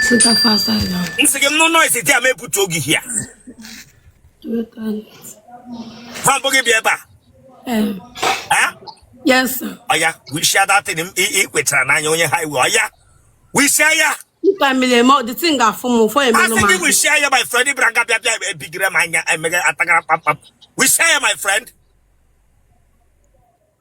Sita fast I know. M sị gị nụ noise dị a ma ebutu oge hia. Ha mbụ gị bịa ebe a. Um, Eh? yes, sir. Ọya, wishia that thing ị kwetara n'anya onye ha iwe. Ọya, wishia ya. If I'm in the mouth, the thing got for me for a Asị gị minute. wishia ya my friend ị bịara nga bịa bịa ebigire m anya emeghe atagara kpamkpam. Wishia ya my friend.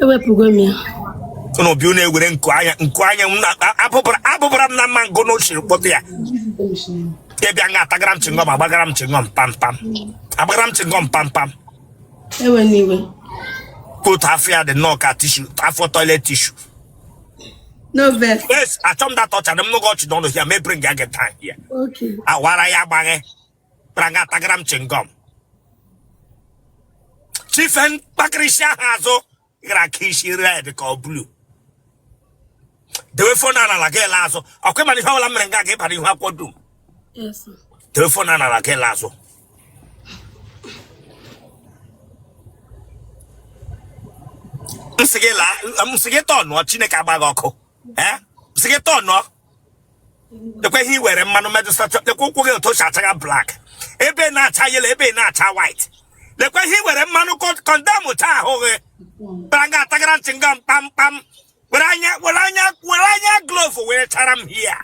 ewepụgo m ya ụnụ bi ụnụ ewere nku anya nku anya m na- a- abụbara abụbara m na mma ngụ n'ochiri kpọta ya ya bịa nga atagara m chingọm agbagara m chingọm pam pam agbagara m chingọm pam pam ewe n'iwe ka otu afọ ya dị nnọọ ka tishu afọ toilet tishu no vex yes achọ m data ọcha na m n'oge ọchị n'ọnụ ya mebiri nga gị taa ya okay awara ya agbaghị bịara nga atagara m chingom chife mkpakịrịsị ahụ azụ gara ka isi red ka ọ blu dewe fon n'ala gị lee azụ ọ kwa ị ma na ihe ọbụla mere nga ga ịbara ihu akwụkwọ dum Yes, sir. dewe fon n'ala gị lee azụ nsị gị laa nsị gị tọnụọ chineke agba gị ọkụ ee m sị gị tọnụọ lekwa ihe i were mmanụ medụsa lekwa ụkwụ gị otu o si achaga blak ebe na-acha yelo ebe na-acha white lekwa ihe i were mmanụ kọndemchaa ahụ gị bịara nga atagara m chingọm kpamkpam were anya were anya were anya glovu were achara m hia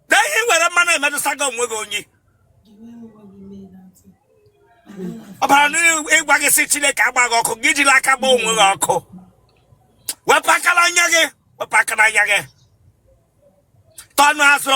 na ihe i were mmanụ emetụsaga onwe gị onye ọ bụla na-agwa gị sị chineke agba gị ọkụ i jila aka gbaa onwe gị ọkụ wepụ aka n'anya gị wepụ aka n'anya gị tọnụọ azụ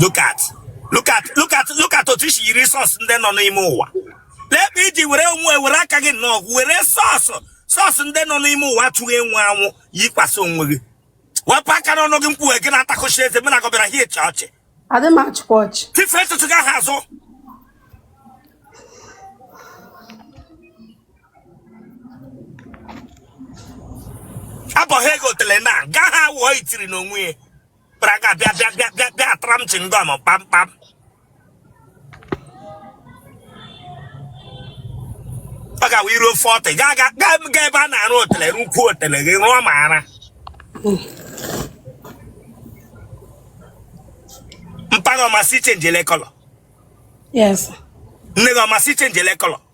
look at look at look at look at otu i si yiri sọs ndị nọ n'ime ụwa lekwa i ji were onwe were aka gị nnọọ were sọs sọs ndị nọ n'ime ụwa atụghị enwe anwụ yikwasị onwe gị wepụ aka n'ọnụ gị mkpughe gị na-atakụchi eze mena ka ọ bịara hia ọchị adị m achịkwa ọchị chife ntutu gị ahụ azụ abọghị ego otele na ga ha wụọ itiri n'onwe ya bịara nga bịa bịa bịa bịa bịa atara m chingom kpamkpam ọ ga-awụ i ruo 40 gaa gaa gaa gaa ebe a na-arụ otele rụkwuo otele gị rụọ ma ara mpa gị ọ ma sị ị chenjela kọlọ Yes. nne gị ọ ma sị ị chenjela kọlọ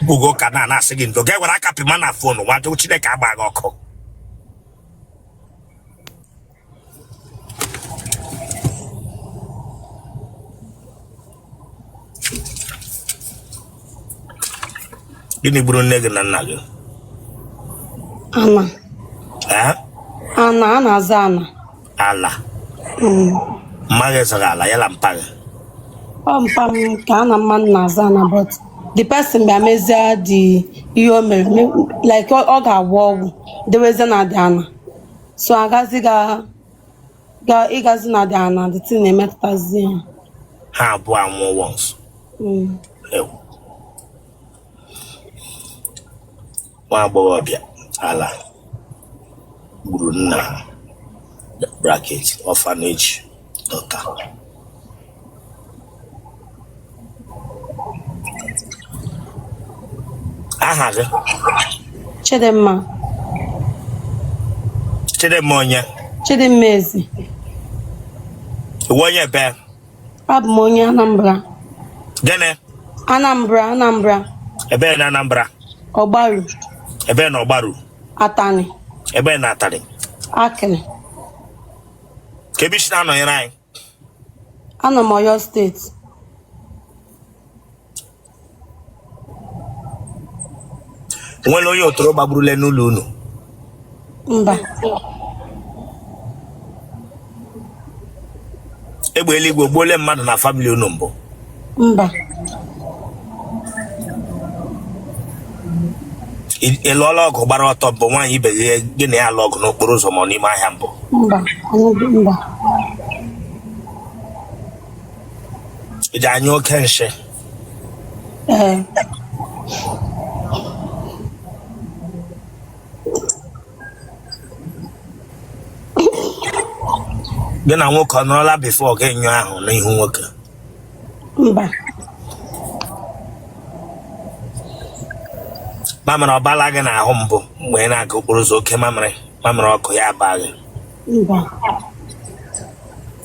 mkpụgo ụka na na-asị gị ndo ga-ewere aka pịma na phone nwado chineke agbaa gị ọkụ gịnị gburu nne gị na nna gị ana Eh? ana a na-azọ ana ala mma gị zụrụ ala ya na mpa gị ọ mpa m ka ya na mmadụ na-azọ ana but the person bịa mezie the ihe o mere me- like ọ ọ ga-agwọ ọgwụ dewezie na the ana so agazi ga ga ịgazi na the ana the thing na-emetụtazi ya ha abụọ anwụọ once Mm. ewu nwa agbọghọbịa ala gburu nna ya bracket orphanage daughter aha gị Chidimma chidimma onye Chidimma Ezeigwe onye ebee Abụ m onye Anambra. Gịnị? Anambra, Anambra. Ebee na Anambra? Ọgbaru. Ebee na Ọgbaru? Atani. Ebee na Atani? Akịrị. Kee ebe i si na-anọnyere anyị? Anọ m Ọyọ steeti. nwere onye ọtọrọ gbagburule n'ụlọ unu mba egbe eluigwe gbuole mmadụ na family unu mbụ mba ị lụọla ọgụ gbara ọtọ mbụ nwaanyị ibe gị gị na ya alụ ọgụ n'okporo ụzọ ma ọ n'ime ahịa mbụ mba anyị mba ị dị anyụ oke nshị gị na nwoke ọ nọrọla before gị nyụọ ahụ n'ihu nwoke mba mamịrị ọ bala gị n'ahụ mbụ mgbe ị na-aga okporo ụzọ oke mamịrị mamịrị ọkụ ya abaghị mba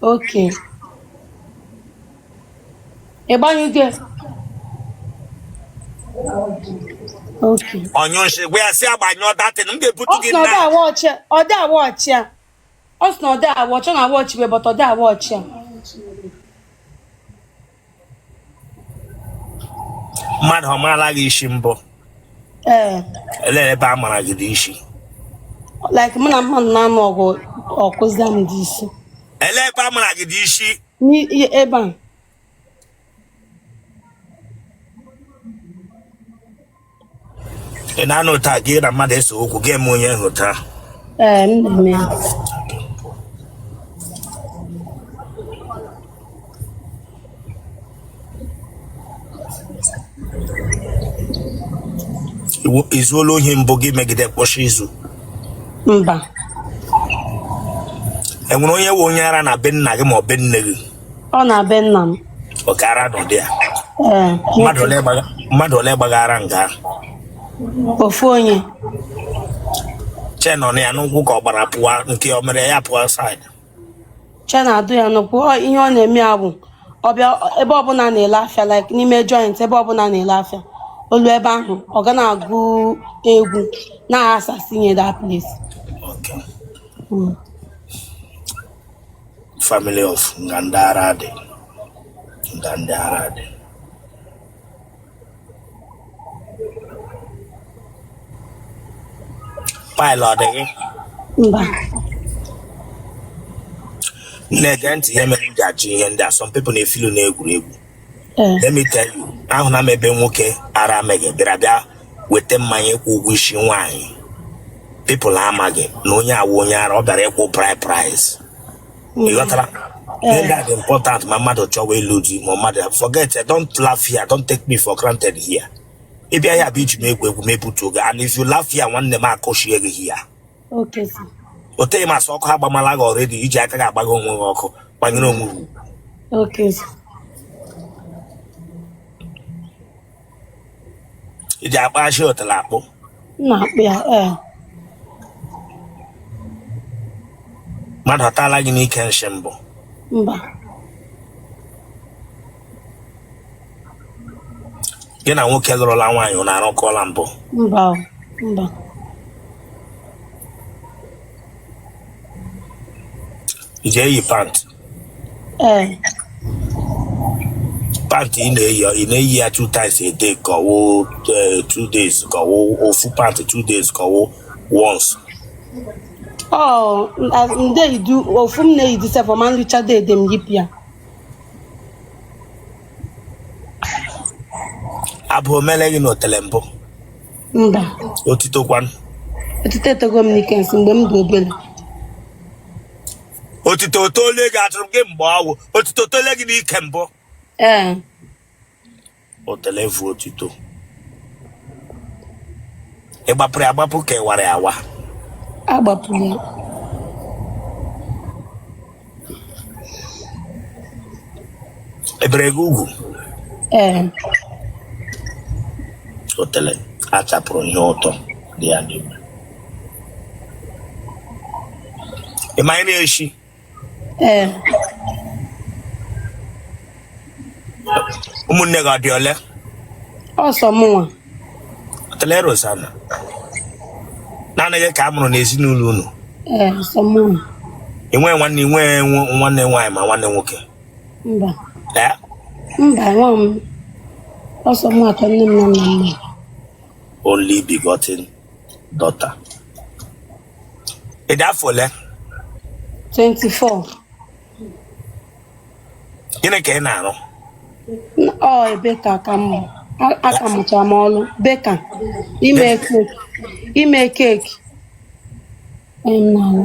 Okay. Ịgbanyụgo. Okay. Ọnyụ nshi gwa ya sị ya gbanyụọ that thing m ga-ebutu gị na. Ọ dị awa ọchị a. Ọ sị na ọ dị awa ọchị ọ na awa ọchị wee bọta ọ dị awa ọchị a. mmadụ ọ maala gị isi mbụ ee elee ebe a mara gị dị isi like mụ na mmadụ na-anụ ọgụ ọ kụzie m dị isi elee ebe a mara gị dị isi n'ihe ebe a ị na-anọta gị na mmadụ ese okwu gị eme onye ahụ taa Ee, m na-eme ya. Iwu- i zuola ohi mbụ gị megide kpọchi izu Mba. enwere onye wụ onye ara na be nna gị ma ọ be nne gị ọ na be nna m oke ara nọ dị ya ee mmadụ ole gbaga- mmadụ ole gbaga ara nga ahụ? ofu onye chain ọ na ya n'ụkwụ ka ọ gbara pụọ nke o mere ya pụọ outside chain adụ ya n'ụkwụ Ọ, ihe ọ na-eme ya bụ ọ bịa ebe ọbụla na-ele afịa like n'ime joint ebe ọbụla na-ele afịa o luo ebe ahụ ọ ga na-agụ egwu na-asasi nye that place Okay. Mm. family of nga ndị ara dị. Nga ndị ara dị. Pile ọ dị gị? Mba. Nne gee ntị ihe mere m ji ajụ ihe ndị a. Some people na-efilu na egwuregwu. eh. let me tell you ahụna m ebe nwoke ara megha bịara bịa weta mmanya ịkwụ ụgwọ isi nwaanyị people amaghị na onye a wụ onye ara ọ bịara ịkwụ bride price mm. ị ghọtara ihe ga dị important ma mmadụ chọwa ịlụ di ma mmadụ forget don't laugh here don't take me for granted here ị bịa here bụ iji m egwu egwu m ebutuo gị and if you laugh here nwanne m akụchie gị here Okay, sir. o teghị masị ọkụ agbamala gị already i ji aka gị agbagha onwe gị ọkụ gbanyere onwe gị Okay, sir. i ji akpụ ajị otele akpụ M na-akpụ ya. Ee. mmadụ atala gị n'ike nshi mbụ Mba. gị na nwoke lụrụla nwaanyị unu arakọọla mbụ mba o, mba i ji eyi pant ee pant ị na-eyi ị na-eyi ya two times a day ka ọ wụ eh, two days ka ọ wụ ofu pant two days ka ọ wụ once ọ ndị idu ofu m na-eyi disefọ ma nricha that day m yipụ ya abụ omele gị na otele mbụ mba otito kwanụ otito etogo m n'ike nsị mgbe m dị obere otito otole gị atụrụ gị mgbe ọwụ otito otole gị n'ike mbụ ee otele vu otito ị gbapụrụ ya agbapụ ka ị wara ya awa a gbapụrụ ya ebere Chukwu ee otele a chapụrụ ihe ụtọ dị ya n'ime ị ma anyị na-eshi ee ụmụnne gị ọ dị ole ọ sọ mụnwa otele rosana naanị gị ka a mụrụ n'ezinụlọ unu ee ọ sọ mụnwa i nwe nwanne i nwe nwa- nwanne nwaanyị ma nwanne nwoke mba ee mba nwa m ọ sọ mụnwa ka nne m na nna m mụrụ. only begotten daughter ị dị afọ ole 24 gịnị ka ị na-arụ ọ baker aka m mụ. A- aka mụcha m ọlụ baker ime cake ime cake Em, na-arụ.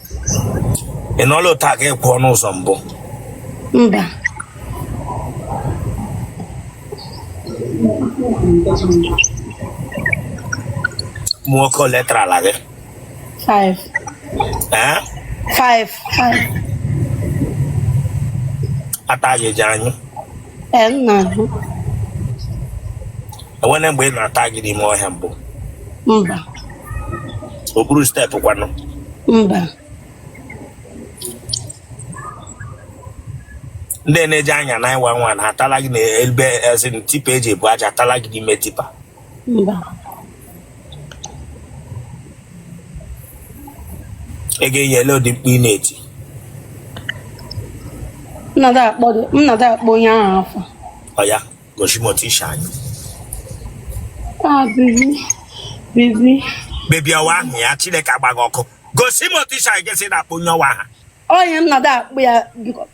ị nọla otu a ka ị kwụọ n'ụzọ mbụ mba ụmụ nwoke ole tarala gị five ee five five ata gị ji anyị Ee, m na-ahụ. e nwere mgbe a na-ata gị n'ime ọhịa mbụ Mba, okpuru step kwanụ mba. ndị na-eji anya na ịwa nwa na atala gị na ebe ezi tipper e ji ebu aja atala gị n'ime tipper mba ị ga-eyi ele ụdị mkpu ị na-eti m na-adị akpọ dị- m na-adị akpọ onye ahụ afa oya gosi m otu isi anyị ah baby baby baby ọwa ahụ ya chineke agbaghị ọkụ gosi m otu isi anyị ga-esi na-akpọ onye ọwa aha onye m na-adị akpọ ya biko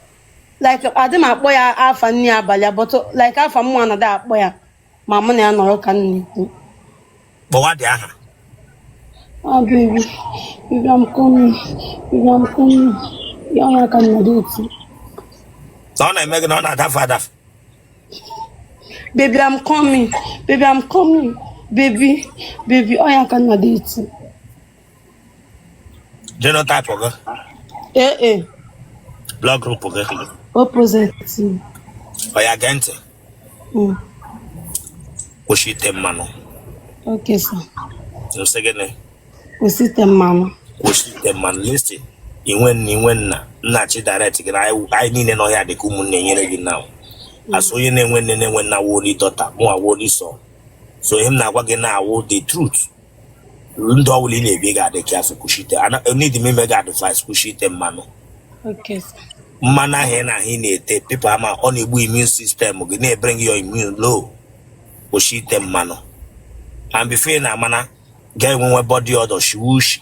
like adị m akpọ ya afa nne abalị abụtụ like afa m na-adị akpọ ya ma mụ na ya nọrọ ka nna ikwu kpọwa dị aha ah baby baby I'm coming baby I'm coming ya ọ na-aka ị na-adị eti na ọ na-eme gị na ọ na-adafe adafe baby I'm coming baby I'm coming baby baby ọ ya ka ị na-adị eti Genotype gị. AA. Blood group gị. O positive. Oya gee ntị. Mm. Kwụsị ite mmanụ. Okay, sir. M sị gịnị? Kwụsị ite mmanụ. Kwụsị ite mmanụ. Listen, inwe nna inwe nna nna chi direct gị na anyị niile nọ here dị ka ụmụnne nyere gị na mm. asụ onye na-enwe nne na-enwe nna woli dọta mụ awoli sọ so ihe m na-agwa gị na-awụ the truth ndụ ọbụla ị na-ebi ị ga-adị careful kwụsị ite need m ime gị advice kwụsị ite mmanụ Okay, sir. mmanụ ahụ ị na-ahụ ị na-ete people ama ọ na-egbu immune system gị na-ebring your immune low kwụsị ite mmanụ and before ị na-ama na ị ga-enwewe body odour shiwe ushi